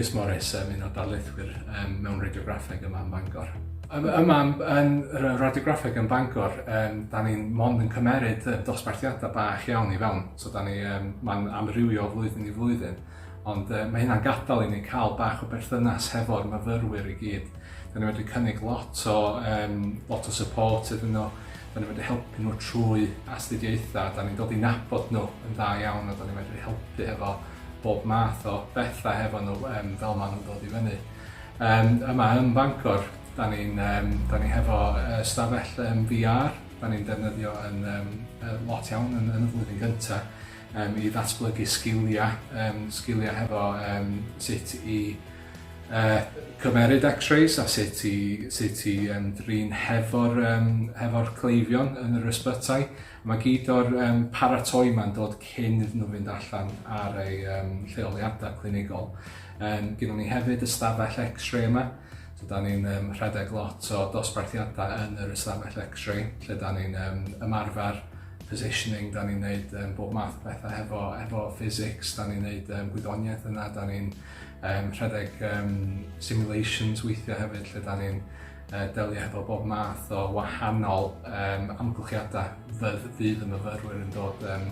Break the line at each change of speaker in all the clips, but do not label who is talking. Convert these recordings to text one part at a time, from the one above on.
Chris Morris, um, un o darlithwyr um, mewn radiograffeg yma yn Bangor. Um, yma yn radiograffeg yn Bangor, um, da ni'n mond yn cymeryd um, dosbarthiadau bach iawn i fewn. So da ni, um, mae'n amrywio flwyddyn i flwyddyn. Ond yy ma' hynna'n gadal i ni ca'l bach o berthynas hefo'r myfyrwyr i gyd. 'Dan ni medru cynnig lot o yym lot o support iddyn nhw. 'Dan ni medru helpu nhw trwy astudiaetha, 'dan ni'n dod i nabod nhw yn dda iawn a 'dan ni medru helpu hefo bob math o betha hefo nhw yym fel ma' nhw'n dod i fyny. Yym yma yn Bangor 'dan ni'n yym 'dan ni hefo yy ystafell yym Vee Are 'dan ni'n defnyddio yn yym yy lot iawn yn yn y flwyddyn gynta. um, i ddatblygu sgiliau, um, sgiliau hefo um, sut i uh, cymeryd x-rays a sut i, sut i um, drin hefo'r um, hefo cleifion yn yr ysbytai. Mae gyd o'r um, paratoi mae'n dod cyn iddyn nhw fynd allan ar ei um, lleoliadau clinigol. Um, Gynnon ni hefyd ystafell x-ray yma, So da ni'n um, rhedeg lot o dosbarthiadau yn yr ystafell lecture, lle da ni'n um, ymarfer positioning, da ni'n neud um, bob math o bethau hefo, hefo physics, da ni'n neud um, gwyddoniaeth yna, da ni'n um, rhedeg um, simulations weithiau hefyd, lle da ni'n uh, delio hefo bob math o wahanol um, amgylchiadau fydd, fydd y myfyrwyr yn dod um,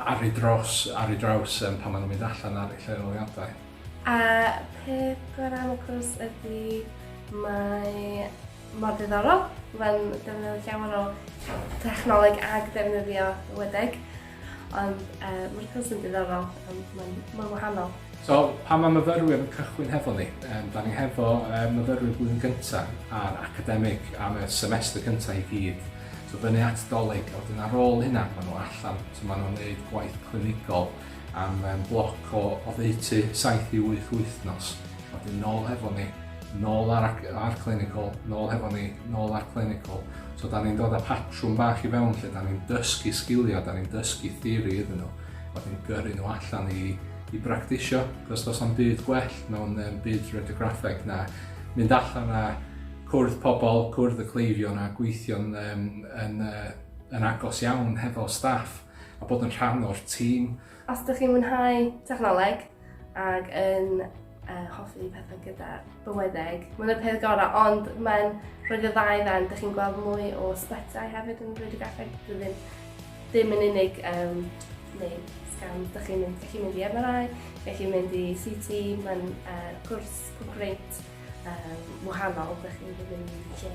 ar ei dros, ar ei draws um, pan maen nhw'n mynd allan ar ei lleoliadau. A peth gorau am y cwrs ydy mae mor ddiddorol, mae'n defnyddio llawer o technoleg ag defnyddio wedeg, ond uh, mae'r cwrs yn ddiddorol, ond mae'n ma wahanol. So, pan mae myfyrwyr yn cychwyn hefo ni, um, da ni hefo um, myfyrwyr blwyddyn gyntaf a'r academig am y semester cyntaf i gyd. So, fyny at doleg, a wedyn ar ôl hynna, maen nhw allan, so maen nhw'n gwneud gwaith clinigol, am yym bloc o oddeutu saith i wyth wythnos, wedyn nôl hefo ni, nôl ar ac- ar clinical, nôl hefo ni, nôl ar clinical. So 'dan ni'n dod â patrwm bach i fewn lle 'dan ni'n dysgu sgilia, 'dan ni'n dysgu theori iddyn nhw, wedyn gyrru nhw allan i i bractisio, cos does na'm byd gwell mewn yym byd radiograffeg na mynd allan a cwrdd pobl, cwrdd y cleifion a gweithio'n yym yn yy yn agos iawn hefo staff. a bod yn rhan o'r tîm. Os ydych chi'n mwynhau technoleg ac yn uh, hoffi pethau gyda bywydeg, mae'n y peth gorau, ond mae'n rhoi dy ddau dden, ydych chi'n gweld mwy o sbetau hefyd yn rhoi dy gaffeg, ddim, ddim yn unig um, neu sgan, ydych chi'n mynd, mynd i MRI, ydych chi'n mynd i CT, mae'n uh, cwrs o greit um, wahanol, dych chi'n dod yn lle.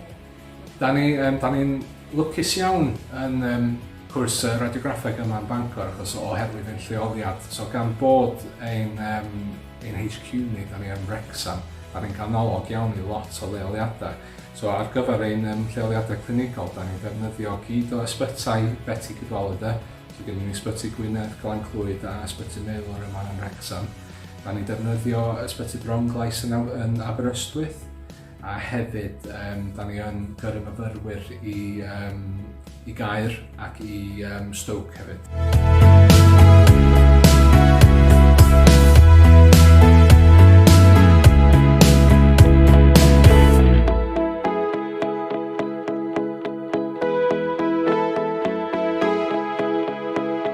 Da ni, um, da ni'n lwcus iawn yn um, cwrs uh, radiograffeg yma yn Bangor achos oherwydd ein lleoliad. So gan bod ein, um, ein HQ ni, da ni yn Wrexham, da ni'n ganolog iawn i lot o leoliadau. So ar gyfer ein um, lleoliadau clinigol, da ni'n defnyddio gyd o ysbytau Betty Cadwaladr, so gen ni ysbyty Gwynedd, Glan Clwyd a ysbyty Meilwr yma yn Wrexham. Da ni'n defnyddio Ysbyty Bronglais yn, yn Aberystwyth a hefyd um, da ni yn gyrru myfyrwyr i, um, i Gaer ac i um, Stoke hefyd.